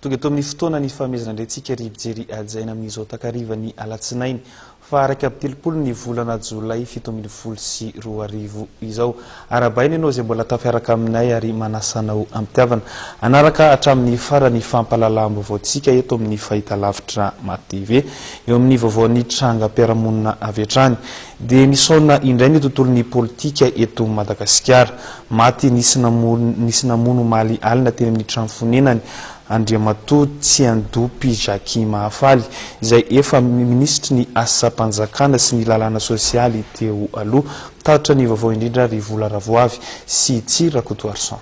Tonga eto amin'ny fotoana ny fanomezana indray antsika ry mpijery hajaina amin'izao takarivan'ny alatsinainy faha-iraika amby telopolo ny volana jolay fito ambin'ny folo sy roa arivo izao. Arahabaina ianao izay mbola tafiaraka aminay ary manasa anao am-pitiavana hanaraka hatramin'ny farany ny fampahalalam-baovaontsika eto amin'ny Fahitalavitra MaTV. Eo amin'ny vaovaon'ny trangam-piarahamonina avy hatrany dia misaona indray ny tontolon'ny politika eto Madagasikara. Maty nisy namono nisy namono omaly alina teny amin'ny trano fonenany Andriamatoa Tsiandopy Jackie Mahafaly, izay efa minisitry ny Asam-panjakana sy ny lalàna sosialy teo aloha. Tatitra ny vaovao indrindra ry Vola Ravoavy sy Tsy Rakotoarison.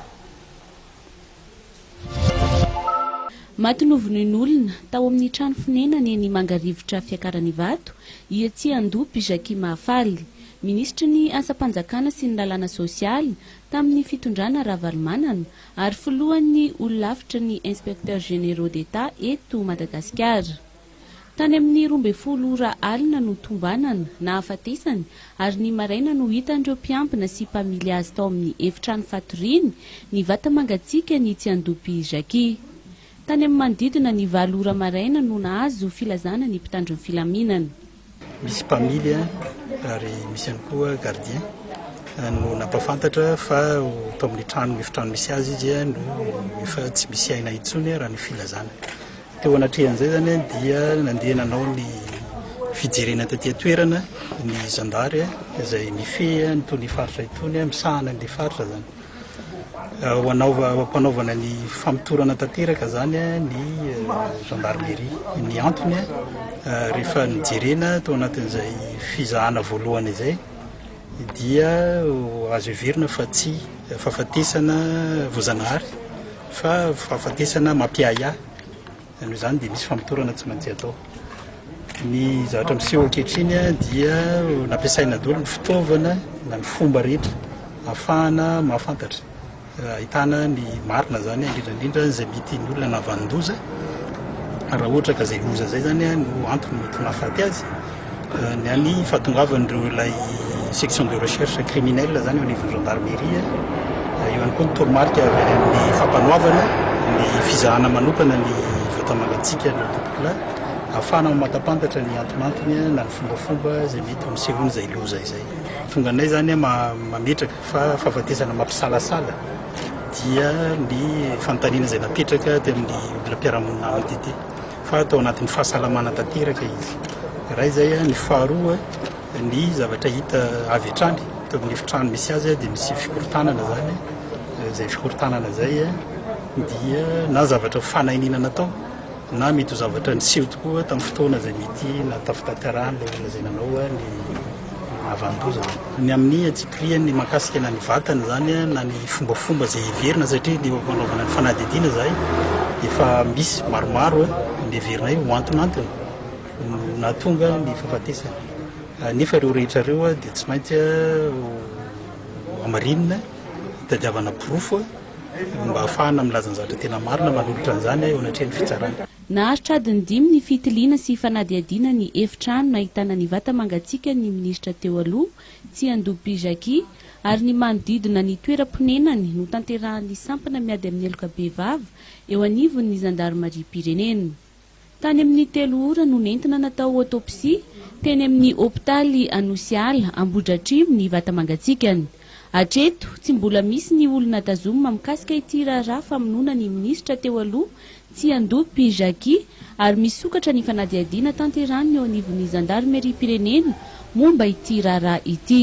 Maty novonoin'olona, tao amin'ny trano fonenany eny Mangarivotra Fiakaranivato, i Hetsiandopy Jackie Mahafaly, minisitry ny Asam-panjakana sy ny Lalàna Sosialy tamin'ny fitondrana Ravalomanana ary filohan'ny Holafitry ny Inspecteurs Généraux d'Etat eto Madagasikara. Tany amin'ny roa ambin'ny folo ora alina no tombanana, nahafatesany, ary ny maraina no hitan'ireo mpiambina sy mpamily azy tao amin'ny efitrano fatoriany, ny vata mangatsiaka ny tsiandoham-py Jackie. Tany amin'ny manodidina ny valo ora maraina no nahazo filazana ny mpitandro ny filaminana. Misy mpamily ary misy ihany koa gardien no nampahafantatra fa tao amin'ny trano efitrano misy azy izy no efa tsy misy aina intsony raha ny filazana. Teo anatrehan'izay izany dia nandeha nanao ny fijerena taty an-toerana ny zandary izay mifehy an'itony faritra itony, misahana an'ilay faritra izany. Ampanaovana ny famotorana tanteraka izany ny gendarmerie. Ny antony, rehefa nojerena tao anatin'izay fizahana voalohany izay, dia azo heverina fa tsy fahafatesana voajanahary fa fahafatesana mampiahiahy. Noho izany dia misy famotorana tsy maintsy atao. Ny zavatra miseho ankehitriny dia nampiasaina daholo ny fitaovana na ny fomba rehetra ahafahana mahafantatra ahitana ny marina izany indrindra indrindra izay mety ny olona navanon-doza raha ohatra ka izay loza izay izany no antony mety mahafaty azy Ny any fahatongavan'ireo ilay section de recherche criminelle izany eo anivon'ny gendarmerie, eo ihany koa ny toromarika avy any amin'ny fampanoavana, ny fizahana manokana ny vata-mangatsiaka na topokolahy, ahafahana mamatapantatra ny antonantony na ny fombafomba izay mety ho nisehoana izay loza izay. Tonga anay izany mametraka fa fahafatesana mampisalasala dia ny fanontaniana izay napetraka tamin'ny olona mpiara-monina amiko tety. fa tao anatin'ny fahasalamana tanteraka izy iray izay ny faharoa ny zavatra hita avy hatrany teo amin'ny efitrano misy azy dia misy fikorontanana izany izay fikorontanana izay dia na zavatra fanainina natao na mety ho zavatra niseho tokoa tamin'ny fotoana izay mety na tafitantarana ilay olona izay nanao ny havandoza. Ny amin'ny antsipirihany mahakasika na ny vatany izany na ny fombafomba izay heverina satria ny eo fanaovana ny fanadihadiana izahay efa misy maromaro ny heverinay ho antonantony no nahatonga ny fahafatesany. Nefa ireo rehetra ireo dia tsy maintsy hamarinina, hitadiavana porofo mba hahafahana milaza ny zavatra tena marina manolotra an'izany eo anatrehan'ny fitsarana. Naharitra adiny dimy ny fitiliana sy fanadihadiana ny efitrano nahitana ny vata mangatsiakan'ny minisitra teo aloha, Tsiandohipy Jackie, ary ny manodidina ny toeram-ponenany, notanterahan'ny sampana miady amin'ny heloka bevava eo anivon'ny zandarimariam-pirenena. Tany amin'ny telo ora no nentina natao autopsie teny amin'ny hopitaly Anosiala, Ambohidratrimo, ny vata mangatsiakany. Hatreto, tsy mbola misy ny olona tazomina mikasika ity raharaha famonoana ny minisitra teo aloha, Tsiandompy Jackie, ary misokatra ny fanadihadiana tanterahiny eo anivon'ny zandarimeriam-pirenena momba ity raharaha ity.